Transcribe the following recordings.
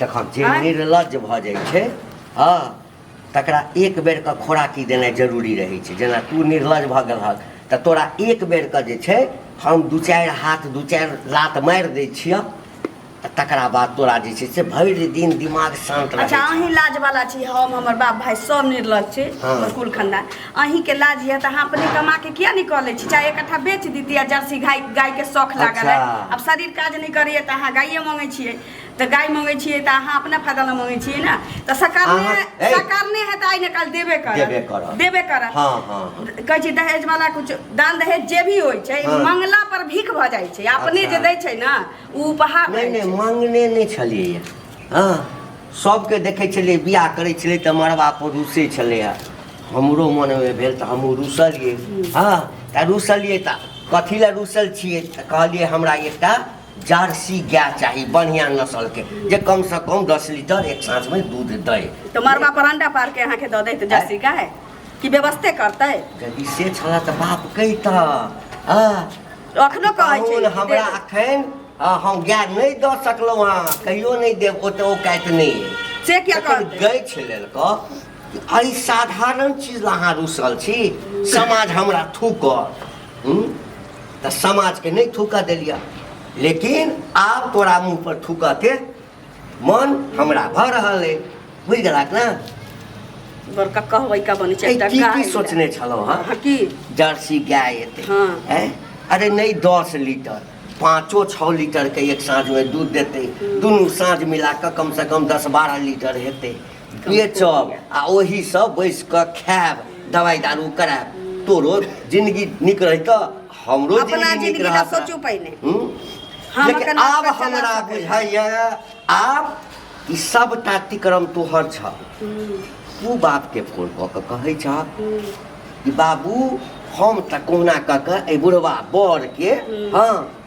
देखब जे आँय? निर्लज भऽ जाइ छै हँ तकरा एक बेरके खोराकी देनाइ जरूरी रहै छै जेना तू निर्लज भऽ गेलहक तऽ तोरा एक बेरके जे छै हम दू चारि हाथ दू चारि लात मारि दै छियह तऽ तकरा बाद तोरा जे छै से भरि दिन दिमाग शान्त रहै अच्छा छै अहीं लाज वाला छी हम हमर बाप भाई सब निर्लज छी हाँ। हमर कुल खानदान अहीं के लाज यऽ तऽ अहाँ अपने कमा के किया नहीं कऽ लै छी चाहे एक कट्ठा बेच दीती आ जर्सी गाय गाय के शौख लागल है अच्छा। अब शरीर काज नहीं करैया तऽ अहाँ गाये मंगै छियै तऽ गाय मंगै छियै तऽ अहाँ अपना फायदा ला मंगै छियै ना तऽ सरकार ने अहाँ- ए! सरकार ने है तऽ आइ ने काल देबे करत देबे करत। देबे करत हाँ हाँ हाँ कहै छै दहेज वाला कुछ दान दहेज जे भी होइ छै हाँ। मंगला पर भीख भऽ जाइ छै अपने अच्छा। जे दै छै ना उ उपहार नहि रहै नहि छै मांगने नहि छलियै हँ सबके देखै छलियै बियाह करै छलै तऽ मरबा पर रुसै छलै हँ हमरो मनमे भेल तऽ हमहूँ रुसलियै हँ तऽ रुसलियै तऽ कथी लए रुसल छियै तऽ कहलियै हमरा एकटा जर्सी गाय चाही बढ़िया नस्ल के जे कम से कम दस लीटर एक सांस में दूध दे तो मरबा पर अंडा पार के यहाँ के दो दे तो जर्सी का है कि व्यवस्थे करते यदि से छला तो बाप कहता अखनो कहै छै हमरा अखन हम गाय नहीं दऽ सकलहुँ हँ कहियो नहीं देव ओते ओ काट नहीं से क्या कर गई छै लेलको अरे साधारण चीज अहाँ रुसल छी समाज हमरा थूक हम्म? तऽ समाजके नहि थूकऽ देलिया लेकिन आब तोरा मुँह पर थूकऽ के मन हमरा भऽ रहल अइ बुझि गेलक ने बड़का कहबै का बनै छै ऐ, एकटा की गाय की लए। सोचने छलहुँ हँ हँ, की जर्सी गाय एतै हँ। ऐं? अरे नहीं दस लीटर पाँचो छः लीटर के एक साँझ में दूध देते दुनू साँझ मिला कऽ कम से कम दस बारह लीटर हेतै बेचब आ ओहीसँ बैसि कऽ खायब दवाइ दारू करायब तोरो जिंदगी नीक रहितऽ हमरो अपना जिंदगी नीक जिंदगी ला रहत सोचू पहिने हूँ? हम लेकिन एखन आब आब कऽ चला हमरा सकैत छी। बुझाइया आब ई सब टाटिक्रम तोहर छ तू बापके फोन कऽ कऽ कहै छ कि बाबू हम तऽ कहुना कऽ कऽ एहि बुढ़वा बरके हँ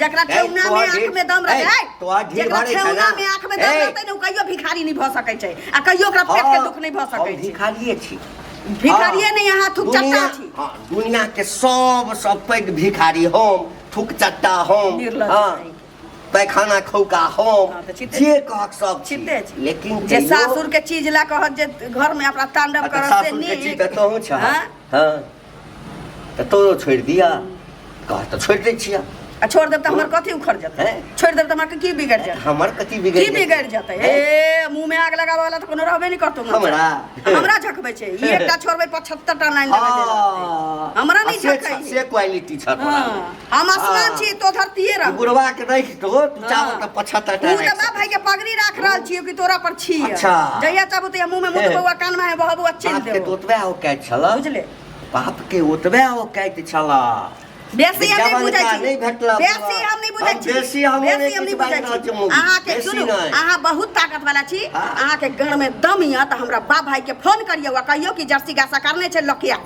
जकरा ए, ठेहुना तोहर में आँख ढील- में दम ए, रहै तोहर ढील जकरा भरै छै ठेहुना ने। में आँख में दम ए। रहतै ने ओ कहियो भिखारी नहि भऽ सकै छै आ कहियो ओकरा पेट के दुख नहि भऽ सकै हम छै भिखारिये छी भिखारिये नहि अहाँ थुक चट्टा दुनिया- छी हाँ, दुनिया के सब सब पैघ भिखारी हम थुक चट्टा हम निर्लज्ज हाँ, छै। पैखाना खौका हम हाँ, तऽ चिते- जे कहक सब छी। चिते छी। लेकिन जे तैयो- सासुर के चीज लए कहत जे घर में अपना तांडव अच्छा, करत से सासुर के चीज नीक तऽ तोहूँ छह। हाँ? हाँ। तऽ तोरो छोड़ि दिअ घर तऽ छोड़ि दै छिअ आ छोड़ देब तऽ हमर कथी उखड़ जेतै छोड़ देब तऽ हमरा की बिगड़ जेतै हमर कथी बिगड़ की बिगड़ जेतै ए मुंह में आग लगाबे वाला तऽ कोनो रहबे नै करतो हमरा हमरा झकबै छै ई एकटा छोड़बै 75 टा लाइन देबै हमरा नै झकै से क्वालिटी छ तोरा हम आसमान छी तो धरतीये रह गुरवा के नहीं की तो तू चावल का पछता तू तो बाप भाई के पगड़ी राख रहल छी कि तोरा पर छी अच्छा। जहिया चाहबू तो मुंह में मुंह ए। बउआ कान में है बहबू अच्छे बाप के दे तो ओतबे हो कहै छल बुझले बाप के ओतबे हो कहै छल बेसी हम नहीं बुझै छी नहीं भेटला बेसी हम नहीं बुझै छी बेसी हम नहीं बेसी हम नहीं बुझै छी अहाँ के सुनू अहाँ बहुत ताकत वाला छी हाँ। अहाँ के गण में दम य त हमरा बाप भाई के फोन करियौ आ कहियौ कि जर्सी गासा करने छै लकिया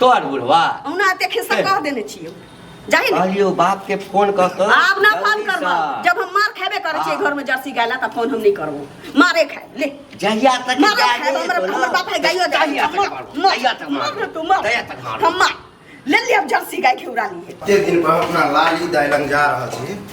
तोहर बुढ़वा ओना एते खिस्सा कह देने छियो जाहि ने कहलियो बाप के फोन क क आब ना फोन जल्दी करबो सँ। जब हम मार खेबे करे छियै घर में जर्सी गाय ला त फोन हम नहीं करबो मारे खाय ले जहिया तक मार गाय खाय नहीं हमर देतो हमर ना, बाप है गायो दे जहिया तक मार मार जहिया तक मार मार तू मार जहिया तक मार हम मार ले ले अब जर्सी गाय खिउरा लिए एते दिन पर अपना लाली दाई लग जा रहल छी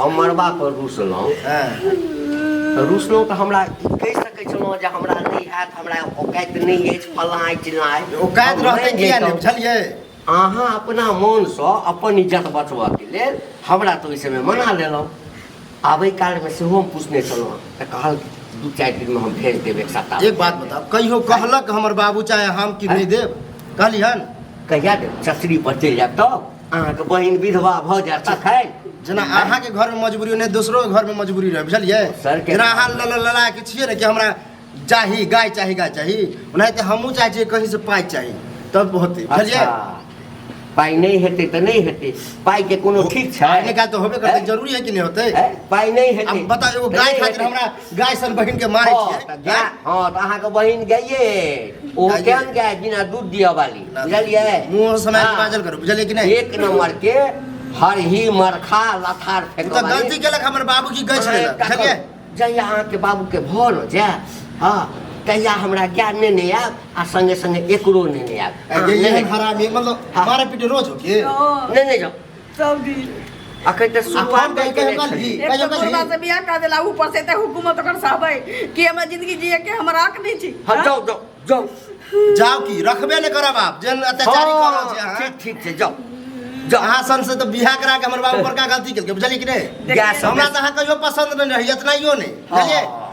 हम मरबा पर रुसलहुँ हँ तऽ रुसलहुँ तऽ हमरा ई कहि सकै छलहुँ जे हमरा नहि हैत हमरा औकाइत नहि अछि फल्लाँ अछि चिल्लाँ अछि औकात हम रहतै मानि किया नहि जैतहुँ। बुझलियै अहाँ अपना मोनसँ अपन इज्जत बचबऽके लेल हमरा तऽ ओहि समय मना लेलहुँ आबै कालमे सेहो हम पूछने छलहुँ हँ, तऽ कहल दू चारि दिनमे हम भेज देब एक सप्ताह एक बात बताओ कहियो कहलक हमर बाबू चाहे हम कि नहि देब कहलिहन कहिया देब चचरी पर चलि जायब तब अहाँके बहिन विधवा भऽ जायत तखन जेना अहाँके घरमे मजबूरी नहि दोसरो घरमे मजबूरी रहै बुझलियै जेना अहाँ लला के छियै ने कि हमरा चाही गाय चाही गाय चाही ओनाहिते हमहूँ चाहै छियै कहींसँ पाइ चाही तब होतै बुझलियै अच्छा। पाइ नहि हेतै तऽ नहि हेतै पाइके कोनो ठीक छै नहि काज तऽ होबे करतै जरूरी है कि नहि होतै पाइ नहि हेतै बताउ एगो गाय खातिर हमरा गाय सन बहिन के मारे हँ, छियै तऽ गाय हँ तऽ अहाँके बहिन गाइए अछि। ओहो गाइए। केहन गाय बिना दूध दिअ वाली ना, बुझलियै मुँह से मारि हँ। बाजल करू बुझलियै कि नहीं एक नंबर के हरही मरखा लथार उ फेंकऽ तऽ वाली। गलती केलक हमर बाबू की गछ अहाँ लेलक एकटा बुझलियै करू, जहिया अहाँके बाबूके भर हो जाय हँ तहिया हमरा ज्ञान ने ने आयब आ संगे संगे एकरो ने ने आयब अहाँ ये लेने- हरामी मतलब हाँ। मारे पीटे रोज हो के नहीं नहीं जाओ सऊदी अखन तऽ शुरुआत कहि के लेल छी एक तऽ मुर्दा से बियाह कर देला ऊपर से ते हुकूमत ओकर सहबै कि हमरा जिंदगी जिए के हमरा हक नहीं छी हँ जाओ जाओ जाओ जाओ की रखबे ने करब आप जेन अत्याचारी हाँ, करो जे अहाँ ठीक ठीक छै जाओ जाओ अहाँ सन से तो बियाह करा के हमर बाबू बड़का गलती केलकै बुझलियै कि नहीं गैस हमरा तो अहाँ कहियो पसंद नहीं रही इतना यो नहीं बुझलियै हाँ।